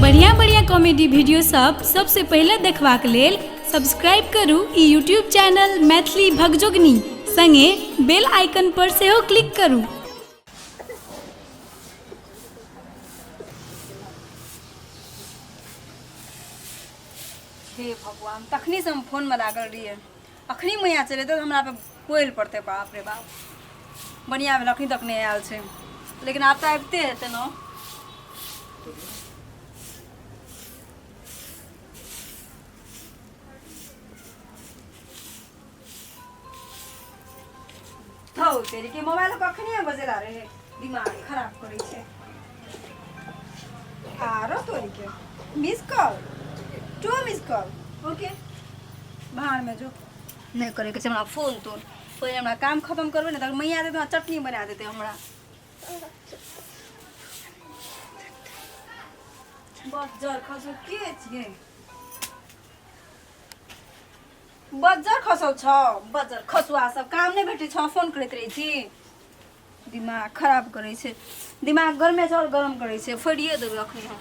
बढ़िया बढ़िया comedy video सब सबसे पहले देखबाक लेल सब्सक्राइब करू ई यूट्यूब चैनल मैथिली भगजोगनी संगे बेल आइकन पर सेहो क्लिक करू हे भगवान तखने से हम फोन में लागल रहिए अखनी मैया चले तो हमरा पे कोयल पड़ते बाप रे बाप बढ़िया भेल अखनी तक नहीं आयल छै लेकिन आब तऽ आबिते हेतै ने थौ तेरी के मोबाइल कखनी बजेला रहे दिमाग खराब करे छे आरो तोरी के miss call to miss call okay बाहर में जो नहीं करे के छै हमरा फोन तोन पहिले हमरा काम खत्म करबे ने तब मैया दे चटनी बना देते हमरा बस जर खसो के छिए बज्जर खसल छ बज्जर खसुआ सब काम नहि भेटै छ फोन करैत रहै छी दिमाग खराब करै छै दिमाग गरमे चाउर गरम करै छै फोड़िए देबै अखन हम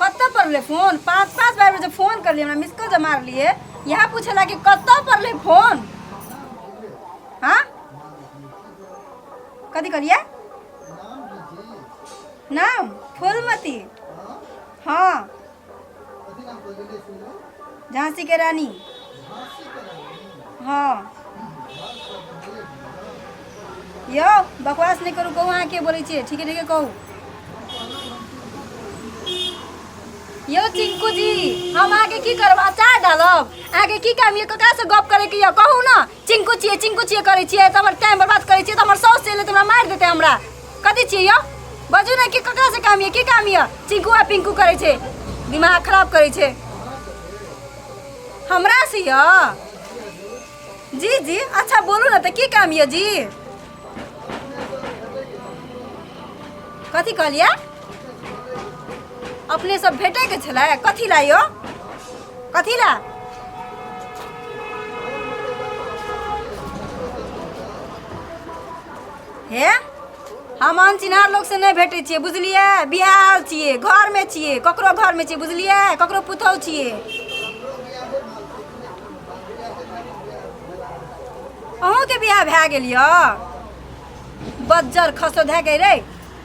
कतऽ पड़लै फोन पाँच पाँच बार में जब फोन कर लिए हमरा मिस कॉल जब मार लिए यहाँ पूछला कि कतऽ पड़लै फोन हाँ कथी कहलिए नाम फूलमती हाँ झांसी के रानी हाँ यो बकवास नहीं करू कहू अहाँ के बोले छे ठीक है ठीक है कहू यो चिंकू जी हम आगे की करब अचार डालब आगे की काम ये ककरा से गप करे के ये कहू ना चिंकू छिए चिंकू छिए करै छिए त हमर टाइम बर्बाद करै छिए त हमर साउस चले त हमरा मार देते हमरा कथी छिए यो बजू ना कि ककरा से काम ये की काम ये चिंकू आ पिंकू करै छै दिमाग खराब करै छै हमरा से यो जी जी अच्छा बोलू ना त की काम ये जी कथी कहलियै अपने सब भेटे के छलै कथी ला यो कथी ला हे हम अनचिन्हार लोग से नहीं भेटे छियै बुझलिए बिहार छियै घर में छियै ककरो घर में छियै बुझलिए ककरो पुतहु छियै अहूँके बियाह भए गेल यऽ बज्जर खसो धए गई रे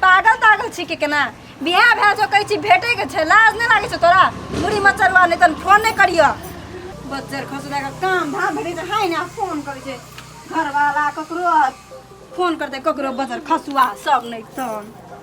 पागल तागल छी के केना बियाह भए जो कहै छी भेटैके छै लाज नहि लागै छै तोरा मुड़ी मचरवा नहि तन फोन नहि करियऽ बज्जर खसो धए कऽ काम धाम भेटै छै हाय ने फोन करै छै घरवाला ककरो फोन करतै ककरो बज्जर खसुआ सब नहि तन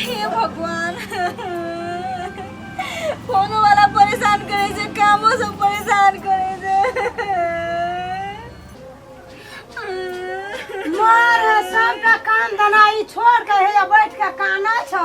हे भगवान फोन वाला परेशान करे छै कामो से परेशान करे छै मार सबका काम धनाई छोड़ के हे बैठ के काना छ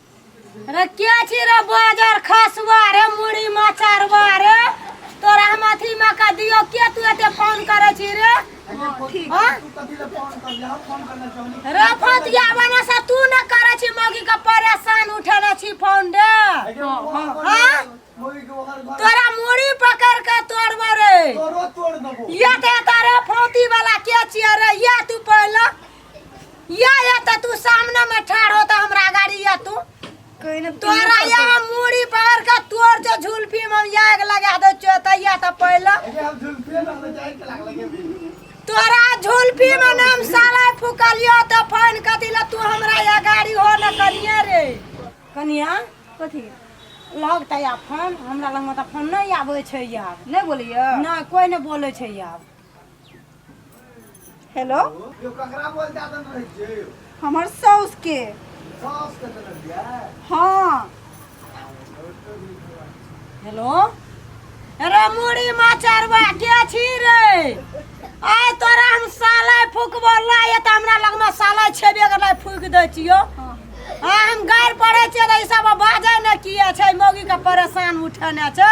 रे के छी रे बाजार खसवा रे मुड़ी मचारवा रे तोरा हम अथी में का दियो के तू एते फोन करे छी रे हाँ? रे फतिया बना से तू न करे छी मौगी के परेशान उठेने छी फोन रे हाँ? तोरा मुड़ी पकड़ के तोड़बो रे ये ते तारे फोती वाला के छिए रे ये तू पहले या या त तू सामने में ठाड़ हो त हमरा गाड़ी या तू कोई ना तोरा या हम मूड़ी पकड़ के तोर जो झुलफी में हम या के लगा दे चोतैया त पहले तोरा झुलफी में नाम साला फुकलियो त फोन कथी ला तू हमरा या गाड़ी हो न कनिया रे कनिया कथी लगता या फोन हमरा लग में त फोन नहीं आवे छै यार नहीं बोलियो ना कोई नहीं बोले छै यार हेलो यो ककरा बोल जात रहै छै यो हमर साउस के सास के देने दिया हाँ हेलो अरे मुड़ी माचरवा के छी रे आय तोरा हम साला फुकबो ला ये त हमरा लग में साला छेबे कर ला फुक दे छियो हाँ। आ हम गार पड़े छियो त ई सब बाजे न किए छै मौगी के परेशान उठेने छै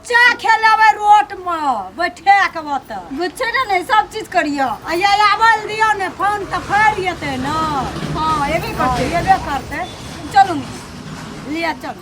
बच्चा खेलेबै रोडमे बैठा कऽ ओतऽ बुझै ने ने सब चीज करियो आ ये आबल दियो ने फोन तऽ फैर जेतै ने हाँ एबे करतै एबे करतै चलू ने लिया चलू